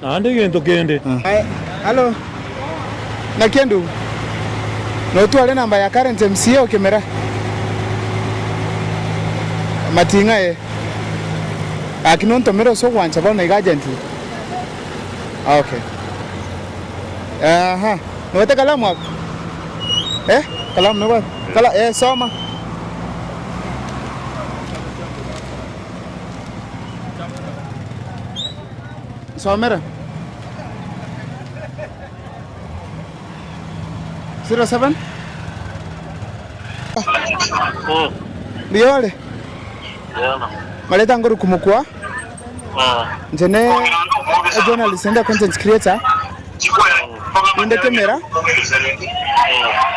Naende egento kende. Aye, hallo. Naki endugu. Notware enamba ya current MCA o Kimera. Mating'a aye. Gaki nontomere ase ogwancha bono iga urgently. Ok. Aha. Nobete ekalamu abwo? Eh? Ekalamu nigo wapi? Kala, eh, soma. Riore, maretango rukumukwa inche ne a journalist and a content creator inde kemera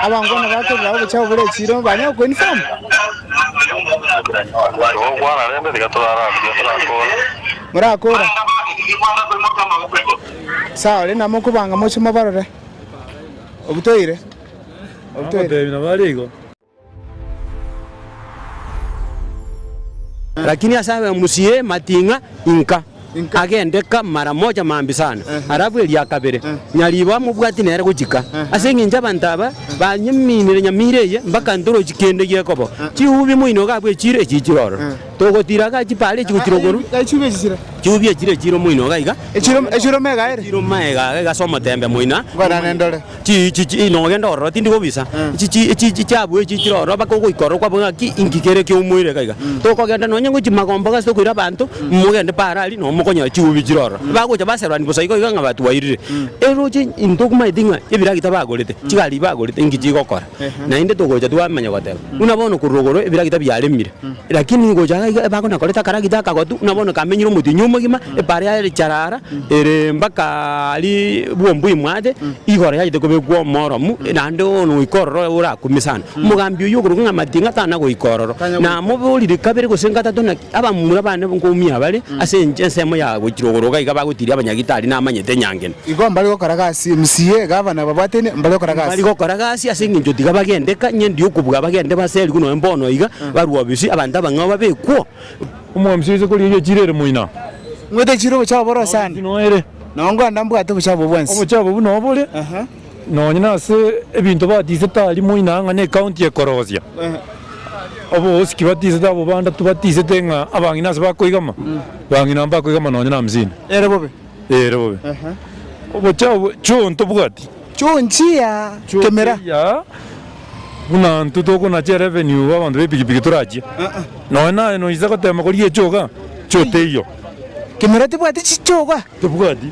abanto bono bakorera obochafu bore echiro banyare ko inform. morakora. Naende abande tibikwana koimokia amaboko inwe. Saore na mokobanga moche mobarore. Obutoire, obutoire. Agotebi nabo are igo. Lakini ase abe musie mating'a inka agende ka mara moja mambia sana, arabu eria ya kabere nyaribo amobwati nere gochika. Ase engencho abanto aba banyeminire nyamira eye mpaka ntorochi kende gekoba, chihubi moino gabwe echiro echichire ororo. Togotira ga chipara echi gotira okoru. Echubi echi chire. Chiubi echi chire chire omoino iga iga. Echire echire omega ere. Chire omega iga iga ase omotembe moina. Nkorane ndore. Chi chi chi no ogende ororo tindi gobisa. Chi chi echi chi chiabu echi chire ororo baka ogoika ororo kwabora ng'aki inki kere kia omoire iga iga. Tokogenda nonye ngo chimagomba iga ase tokoira abanto mogende paro aria no mokonyora chiubi chire ororo. Bagocha baserorani bosa igo iga ng'a batwairire. Eroche intwe tokumanyete ng'a ebiragita bagorete chigari bagorete inki chigokora. Naende togocha twamanya goteba, buna bono korwa igoro ebiragita biaremire, lakini gocha iga iga ebako nakorete akaragita akagotu, buna bono kamenyire omotienyi omogima, ebare yaye ere charara, ere mbaka aria bwombu imwate, igoro yachete kobekwa omoromu, naende bono goika ororo orakume sana. Omogambi oyio okoruga ng'a amatinga tana goika ororo, namoborire kabere gose gatato naki. Abamura bane nkomi abare ase enchera ensemo ya gochira ogoroka iga bagotiria abanyagitari namanyete nyangena. Igo mbare gokora gasi emisiyi egavana babwatene mbare gokora gasi. Mbare gokora gasi ase engencho tiga bagende ka ng'ende y'okobua bagende baserigwe nonya mbono iga barue obisi abanto abang'ao babekwo. Omogambisi oise koria iga echiro ere moina. Ng'wete echiro obochabo boro sana. Nao ngwanda mbwate obochabo obwo bwensi. Obochabo obo nobore. Nonya nase ebinto batisete aria moina ng'a necounty ekorosia obogosiki batisete abwo banda tibatisete ng'a abang'ina ase bakoigama bang'ina mbakoigama nonya na hamsini. Ere bobe. Ere bobe. Obochie abwo chio tobwati. Chio nchia kemera. Chio eya buna intwe tokonache revenue abanto bepikipiki torachie. Nonya naye noise gotema koria echoga chio teiyo. Kemera tebwati chichoga? Tebwati.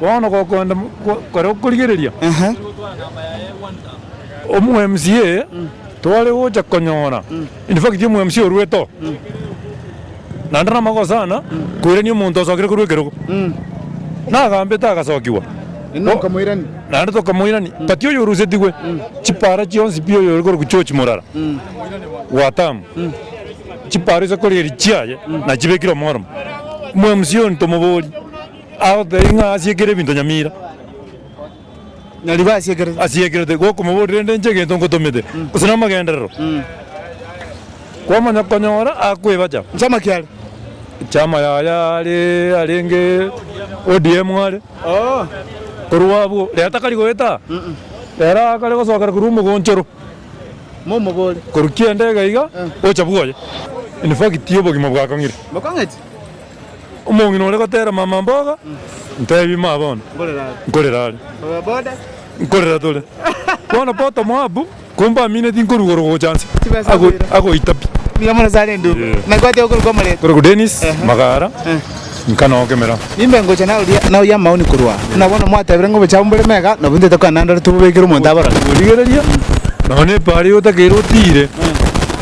Bono gokonda kore okorigereria omwmca tware gocha konyora infact omwmca orue to naende namagoro sana koirania omonto osokire korwa ekerogo nagambete agasokigwa naende tokamoirani but oyo orusetigwe chipara chionsi pi oyo ore korokwa George Murara Watamu chipara ase korieria chiaye nachibekire omoremo omwmca oyo ntomobori. Agotebia ng'a asiekerire ebinto nyamira. Nyarigwe asiekerete. Asiekerete, gokomoboria rende inche egento ngotomete, gose namagenderero. Kwamanya konyora akwebacha. Chama kiare. Chama yaya are arenge ODM are. Oh. Korwa abwo, rero takari goeta. Rero akare gosokera korwa omogonchoro. Momobore. Korwa kianda iga iga, gocha bwoye. In fact obogima bwakong'ire. Bokong'eti. Omong'ina ore gotera mama mboga, ntebi ma bono nkorera are, nkorera tore. Bono poto Moabu, kombamineti nkoruga orogo gocha anse, agoita pi. Kore ko Dennis magara, nkanoka emeremo. Origereria, nonya epaara eye otakeire otiire.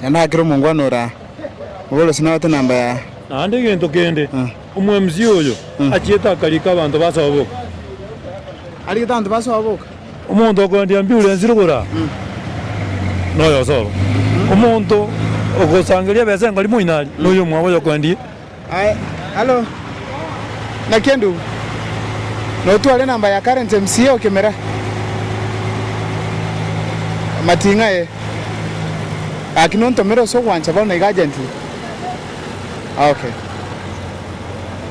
Naende agakera omongwana oria oborosi na ogote namba ya. Naende egento kende, omwMC oyo achiete akariika abanto basoa boka. Arigete abanto basoa boka. Omonto okoendia ambiurensi rogora noyosoro. Omonto ogosangereria ebesa enkori moinari noyomwabo oyokoendie. Alo naki endubu, na otware namba ya karenti emsie okemera amating'a aye, gaki nontomere ase ogwancha bono naiga agenti aoke.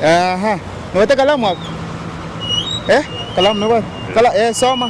Aha, nobwate kalamu abwo? Eh, kalamu nobwate? Kala, eh, soma.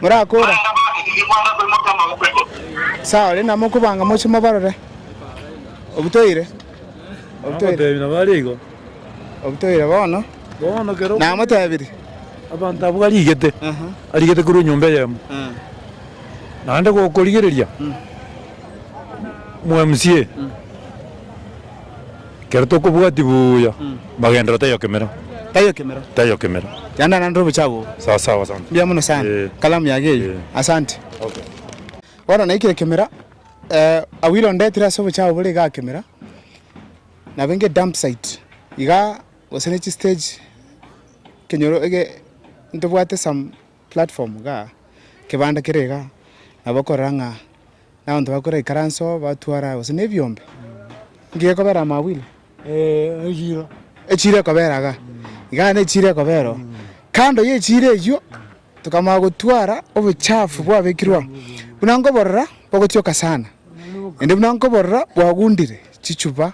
morakora. Saore namokobanga moche mobarore. Obutoire. Obutoire. Nabo are igo. Obutoire bono. Bono kero. Namotebirie. Abanto abwo arigete. Arigete korwa enyomba eyemo. Naende gokorigereria. Mwa MCA. Ekero tokobwatia buya magendereo taiyo kemero. Taiyo kemero. Taiyo kemero. Yanda nande obochie abwo. Sawa sawa asante. Mbuya mono sana. Ee. Kalamu yage eyio. Ee. Asante. Okay. Bono naikire kemera abwo ira ondetire ase obochie abwo bore igaa kemera nabo enge dump site igaa gose ne chistage ekenyoro ege ntobwate some. Platform iga, kebanda kere iga, nabo okorora ng'a nabanto bagokora ikaranse oo, batwara gose na ebiombe, nki gekobera amo abwo ira? Echiro. Echiro ekobera iga, igaa nechiro ekobera oo. Kando yechiro eywo, tokamanya gotwara obochafu bwabekirwe aa, buna nkoborora bogotioka sana, naende buna nkoborora bwagundire chichupa.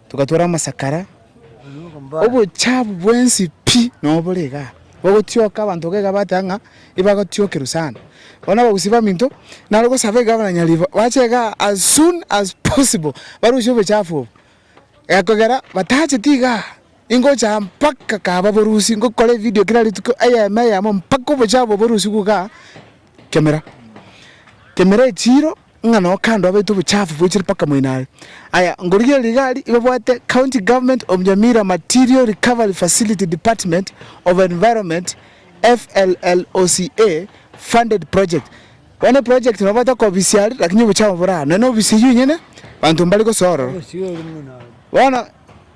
Togatwara amasakara, obochafu bwensi pi nobore igaa. Bagotioka abanto iga iga bateba ng'a ibagotiokerwa sana. Bono abagusi baminto naro gosaba iga buna nyaribaba bache igaa as soon as possible barusie obochafu obo, ekogera batacheti igaa. Ingocha mpaka kaba borusi, ngokora evidio kera rituko, eyemo eyemo, mpaka obochie abo borusi bwoka kemera. Kemera echiro, ng'a noo kando abaite obochafu bwechire mpaka moino are. Aya, ngorigereria rigari, ibabwate County Government of Nyamira Material Recovery Facility Department of Environment, FLLOCA, funded project. Bono eproject nababwate okobisia are, lakini obochafu bore aa, nonya nobisia oywo onyene, banto mbare gosoa ororo. Bono.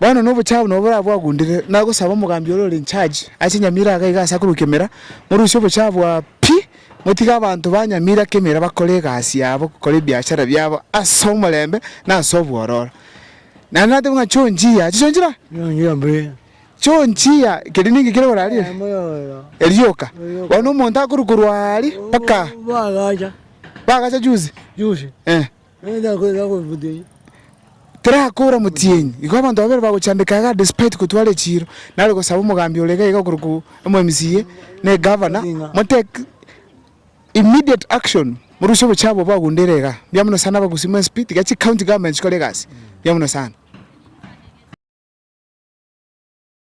Bono nobochabo nobo boraba bwagundire, nagosaba omogambi ore ore in charge ase Nyamira iga iga ase akorukia emera, morusie obochabo bwa pi, motige abanto ba Nyamira ake emera bakore egasi yabo, bakore ebiashara biabo ase omorembe na ase obwororo. Naende nateba ng'a chionchia, chichionchira? Chionchia mbuya. Chionchia keria ninki kere korarire? Erioka. Bono omonto akorwa korwa aria mpaka. Bagacha. Bagacha juzi? Juzi. Eh. Terakoora omotienyi. Igo abanto babere bagochandeka igaa despite kotwara echiiro, nare gosaba omogambi ore iga iga korokwo omomca na egavana, mo take immediate action morusie obochafu obwo bwagundere igaa. Mbuya mono sana abagusii mwa mcp, tiga chicounty government chikore egasi, mbuya mono sana.